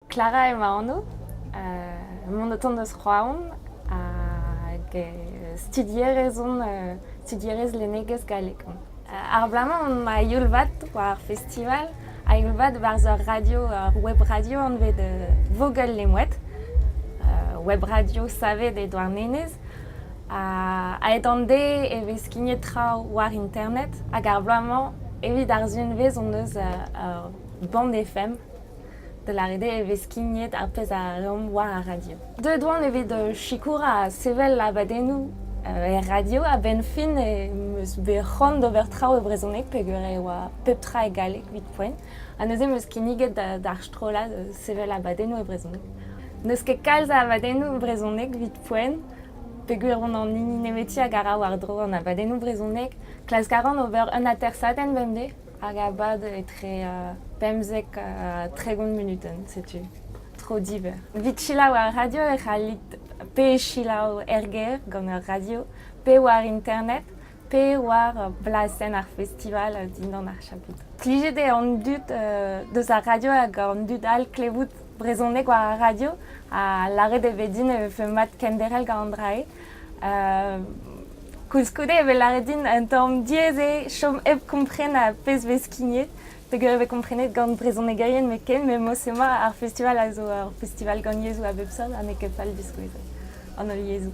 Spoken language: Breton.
Klara eo ma anv. mont o tont eus Roazhon hag studierez on, studierez lennegezh gallek on. Ar bloaz-mañ on ma youl vat war ar festival a youl vat barzh ur radio, ur web radio anvet Vogel Lemouet, web radio savet e Douarnenez. A-hed an deiz e vez skignet traoù war internet hag ar bloaz-mañ evit ar zunvezh hon eus ur band FM da lâret eo e vez skignet ar pezh a reomp war ar radio. Deuet oan evit euh, sikour ha sevel abadennoù euh, er radio. A-benn fin em eus bet c'hoant d'ober traoù e brezhoneg peger e oa pep tra e galleg evit poent. Ha neuze em eus kinniget d'ar strollad euh, sevel abadennoù e brezhoneg. N'eus ket kalz a abadennoù brezhoneg evit poent peger on an hini nemeti a gara war-dro an abadennoù brezhoneg. Klask a ran ober un atersadenn bemdez. Hag a bad etre pemzek ha tregont munutenn, setu. Tro diber. Evit selaou ar radio e c'hallit pe selaou er gêr gant ar radio, pe war internet, pe war blasenn ar festival dindan ar chapit. Plijet eo an dud deus ar radio hag an dud all klevout brezhoneg war ar radio ha lâret eo bet din e vefe mat kenderc'hel gant an dra-se. Koulskoude e vez lâret din an tamm diaes eo chom hep kompren ar pezh vez skignet peger e vez komprenet gant brezhonegerien hepken met mod-se-mañ ar festival a zo ur festival gant yezhoù a bep seurt ha n'eo ket fall diskouezet an holl yezhoù.